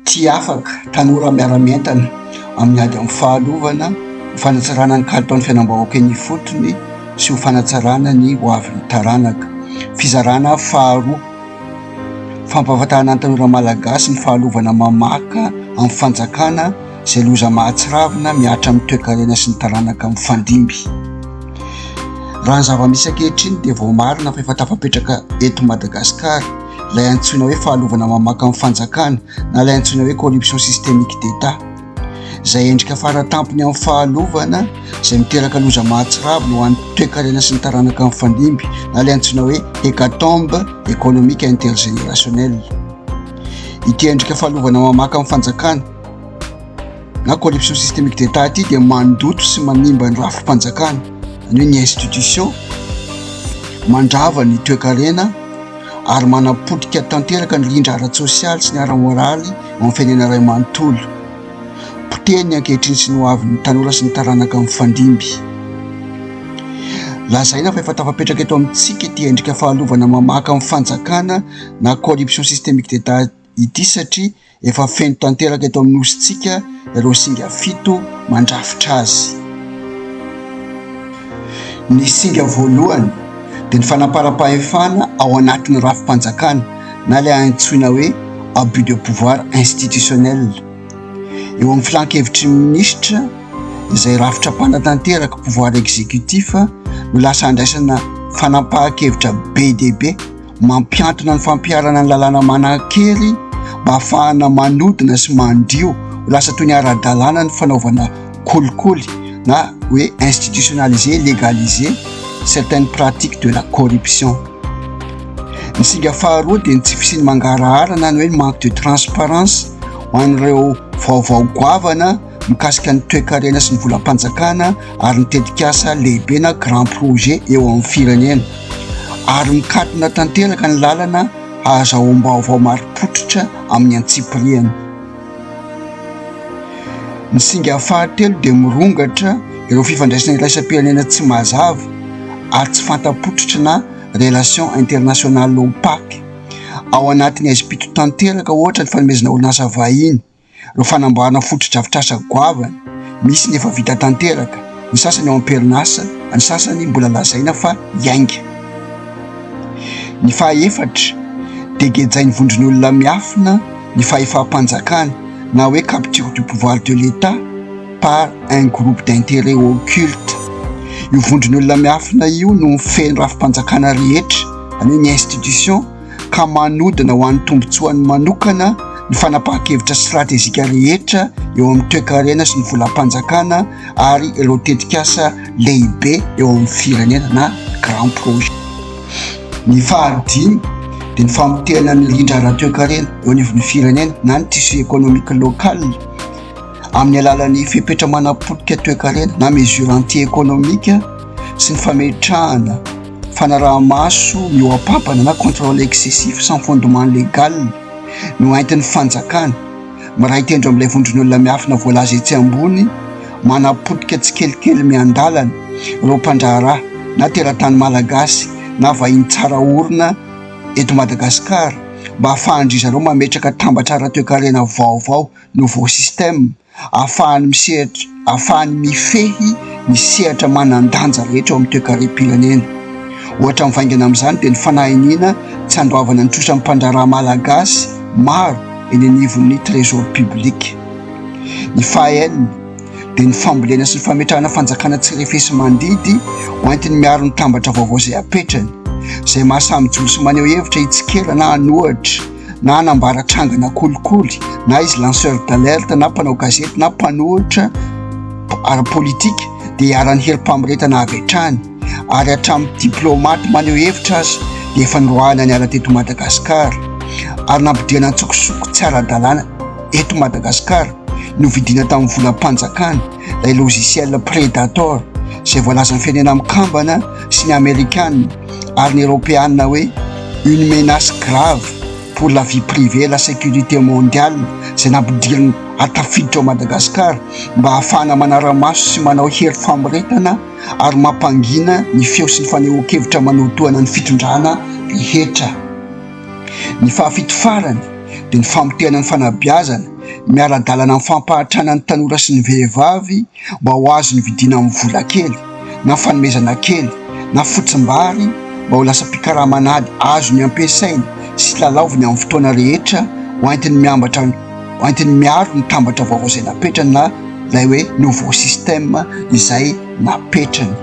Tsy afaka, tanora miara-mientana amin'ny ady amin'ny fahalovana, ho fanatsarana ny kalitaon'ny fiainam-bahoaka eny ifotony sy ho fanatsarana ny ho avin'ny taranaka. Fizarana faharoa, fampahafantarana ny tanora malagasy ny fahalovana mamaka amin'ny fanjakana izay loza mahatsiravina mihatra amin'ny toekarena sy ny taranaka mifandimby. Raha ny zava-misy ankehitriny dia voamarina fa efa tafapetraka eto Madagasikara. ilay antsoina hoe fahalovana mamaka ny fanjakana na ilay antsoina hoe corruption systemique d'Etat, izay endrika faratampony amin'ny fahalovana izay miteraka loza mahatsiravina ho an'ny toekarena sy ny taranaka mifandimby na ilay antsoina hoe hecatombe économique intergénérationnelle. Ity endrika fahalovana mamaka amin'ny fanjakana. na corruption systemique d'etat ity dia mandoto sy manimba ny rafi-panjakana any hoe ny institution mandrava ny toekarena ary manapotika tanteraka ny rindra ara-tsosialy sy ny ara-moraly amin'ny firenena iray manontolo potehiny ankehitriny sy ny hoavin'ny tanora sy ny taranaka mifandimby lazaina fa efa tafapetraka eto amintsika ity endrika fahalovana mamaka amin'ny fanjakana na corruption systemique d'etat ity satria efa feno tanteraka eto amin'ny nosintsika ireo singa fito mandrafitra azy. Ny singa voalohany dia ny fanamparam-pahefana ao anatin'ny rafi-panjakana na ilay antsoina hoe abus de pouvoir institutionnel. Eo amin'ny filan-kevitry ny minisitra izay rafitra mpanatanteraka pouvoir exécutif no lasa andraisana fanapahan-kevitra be dia be Mampiantona ny fampiharana ny lalàna manan-kery mba hahafahana manodina sy mandio ho lasa toy ny ara-dalàna ny fanaovana kolikoly na hoe institutionnaliser, légaliser certaines pratiques de la corruption. Ny singa faharoa dia ny tsy fisian'ny mangarahara na ny hoe manque de transparence ho an'ireo vaovao goavana. mikasika ny toekarena sy ny volam-panjakana ary ny tetikasa lehibena grand projet eo amin'ny firenena ary mikatona tanteraka ny lalana hahazahoam-baovao marim-pototra amin'ny antsipiriany ny singa fahatelo dia mirongatra ireo fifandraisana iraisam-pirenena tsy mazava ary tsy fantapototra na relation internationale opaque ao anatin'ny aizim-pito tanteraka ohatra ny fanomezana orinasa vahiny Ireo fanamboarana fotodrafitrasa goavana, misy ny efa vita tanteraka, ny sasany ao am-perinasa, ny sasany mbola lazaina fa hiainga. Ny fahaefatra, dia gejain'ny vondron'olona miafina ny fahefam-panjakana na hoe capture du pouvoir de l'Etat par un groupe d'intérêt occulte. Io vondron'olona miafina io no mifehy ny rafi-panjakana rehetra, izany hoe ny institutions, ka manodina ho an'ny tombontsoany manokana ny fanapahan-kevitra stratejika rehetra eo amin'ny toekarena sy ny volam-panjakana ary ireo tetikasa lehibe eo amin'ny firenena na grand projet. Ny fahadimy dia ny famotehana ny rindra ara-toekarena eo anivon'ny firenena na ny tissu économique local amin'ny alalan'ny fepetra manapotika toekarena na mesure anti-économique sy ny fametrahana Fanaraha-maso mihoa-pampana na contrôle excessif sans fondement légal no entin'ny fanjakana. Miray tendro amin'ilay vondron'olona miafina voalaza etsy ambony manapotika tsikelikely miandalana ireo mpandraharaha na teratany malagasy na vahiny tsara orina eto Madagasikara mba hahafahan-dry zareo mametraka tambatra ara-toekarena vaovao, nouveau système. ahafahany misehatra, ahafahany mifehy ny sehatra manan-danja rehetra ao amin'ny toekarem-pirenena. Ohatra mivaingana amin'izany dia ny fanahy iniana tsy handoavana ny trosany mpandraharaha malagasy maro eny anivon'ny Trésor public. Ny fahaenina dia ny fambolena sy ny fametrahana fanjakana tsy refesi-mandidy hoentiny miaro ny tambatra vaovao izay apetrany, izay maha samy mijoro sy maneho hevitra hitsikera na hanohitra, na hanambara trangana kolikoly na izy lanceur d'alerte na mpanao gazety na mpanohitra ara-politika dia iharan'ny herim-pamoretana avy hatrany ary hatramin'ny diplaomaty maneho hevitra aza dia efa niroahana niala teto Madagasikara ary nampodiana an-tsokosoko tsy ara-dalàna eto Madagasikara no vidina tamin'ny volam-panjakana ilay logiciel Predator izay voalazan'ny firenena mikambana sy ny Amerikana ary ny Eropeana hoe une menace grave pour la vie privée et la sécurité mondiale izay nampidiriny hatafiditra ao Madagasikara mba hahafahana manara-maso sy manao hery famoretana ary mampangina ny feo sy ny fanehoan-kevitra manotohana ny fitondrana rehetra. Ny fahafito farany dia ny famotehana ny fanabeazana miara-dalana amin'ny fampahatrana ny tanora sy ny vehivavy mba ho azony vidiana amin'ny vola kely na fanomezana kely na fotsimbary mba ho lasa mpikaraman'ady azony ampiasainy sy lalaoviny amin'ny fotoana rehetra ho entiny miambatra ho entiny miaro ny tambatra vaovao izay napetrany na ilay hoe nouveau système izay napetrany.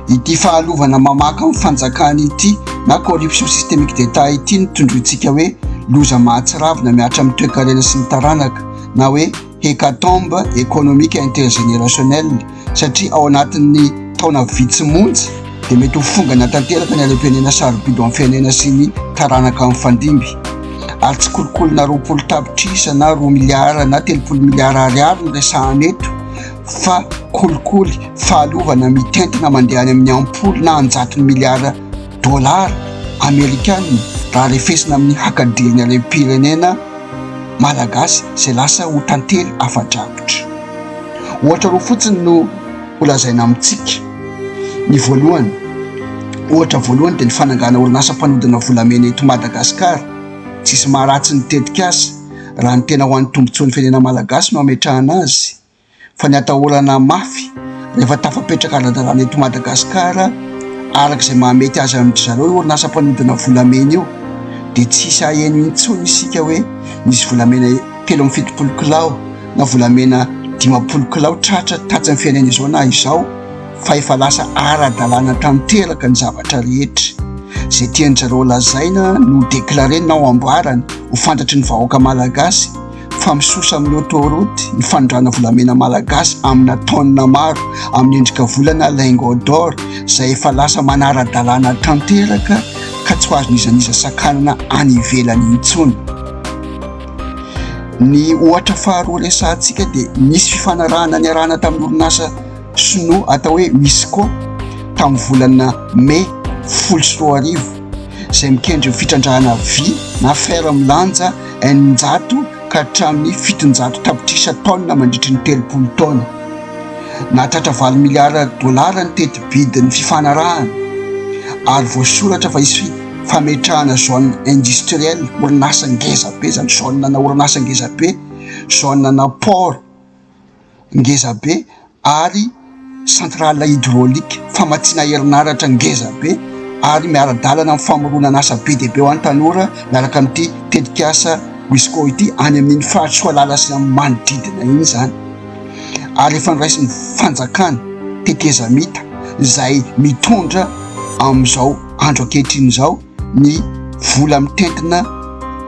Ity fahalovana mamaka amin'ny fanjakana ity na corruption systemique d'Etat ity no tondrointsika hoe loza mahatsiravina mihatra amin'ny toekarena sy ny taranaka. na hoe hecatombe économique intergénérationnelle satria ao anatin'ny taona vitsy monja dia mety ho fongana tanteraka ny harem-pirenena sarobidy amin'ny firenena sy ny taranaka mifandimby ary tsy kolokolona roapolo tapitrisa na roa miliara na telopolo miliara ariary ny resahana eto fa kolikoly fahalovana mitentina mandeha any amin'ny ampolo na anjatony miliara dolara amerikana raha refesina amin'ny hakadiriny harem-pirenena malagasy izay lasa ho tantely afa-drakotra. Ohatra roa fotsiny no ho lazaina amintsika. Ny voalohany, ohatra voalohany dia ny fanangana orinasa mpanodina volamena eto Madagasikara. Tsisy maharatsy ny tetikasa raha ny tena ho an'ny tombontsoan'ny firenena malagasy no ametrahana azy. fa ny atahorana mafy rehefa tafapetraka ara-dalàna eto Madagasikara, araka izay mahamety azy amin-dry zareo io orinasa mpanodina volamena io, dia tsy hisy haheno intsony isika hoe nisy volamena telo amby fitopolo kilao na volamena dimampolo kilao tratra tatsy ny fiainana izao na izao, fa efa lasa ara-dalàna tanteraka ny zavatra rehetra. Izay tian-dry zareo lazaina no declarer-na ao amboarany ho fantatry ny vahoaka Malagasy. fa misosa amin'ny autoroute ny fanondrana volamena malagasy amina tonne maro amin'ny endrika volana lingot d'or izay efa lasa manara-dalàna tanteraka ka tsy ho azon'iza n'iza sakanana any ivelany intsony. Ny ohatra faharoa resahantsika dia nisy fifanarahana niarahana tamin'ny orinasa Sinoa atao hoe Misko tamin'ny volana May folo sy roa arivo, izay mikendry ny fitrandrahana vy na fer milanja eninjato ka hatramin'ny fitonjato tapitrisa taonina mandritry ny telopolo taona. Nahatratra valo miliara dolara ny teti-bidin'ny fifanarahana, ary voasoratra fa hisy fametrahana zone industrielle, orinasa ngeza be izany, zone-na orinasa ngeza be, zone-na port, ngeza be ary centrale hydraulique famatsiana herinaratra ngeza be ary miara-dalana amin'ny famoronana asa be dia be ho an'ny tanora miaraka amin'ity tetikasa Wisco ity any amin'iny faritra Soalala sy amin'ny manodidina iny izany ary efa noraisin'ny fanjakana tetezamita izay mitondra amin'izao andro ankehitriny izao. ny vola mitentina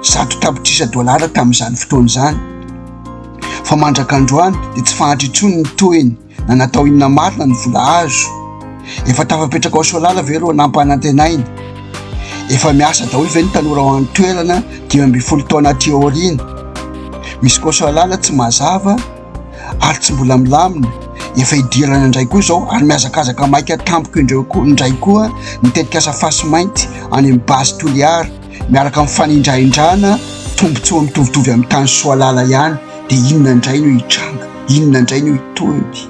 zato tapitrisa dolara tamin'izany fotoana izany fa mandraka androany dia tsy fahantry intsony ny tohiny na natao inona marina ny vola azo efa tafapetraka ao soalala ve ireo nampanantenaina efa miasa daholo ve ny tanora ao an-toerana dimy ambin'ny folo taona aty aoriana misy koa soalala tsy mazava ary tsy mbola milamina, efa hidirana indray koa izao ary mihazakazaka maika tampoka indreo koa indray koa ny tetikasa fasy mainty any amin'ny base Toliara miaraka amin'ny fanindrahindrana tombontsoa mitovitovy amin'ny tany Soalala ihany dia inona indray no hitranga, inona indray no hitohy.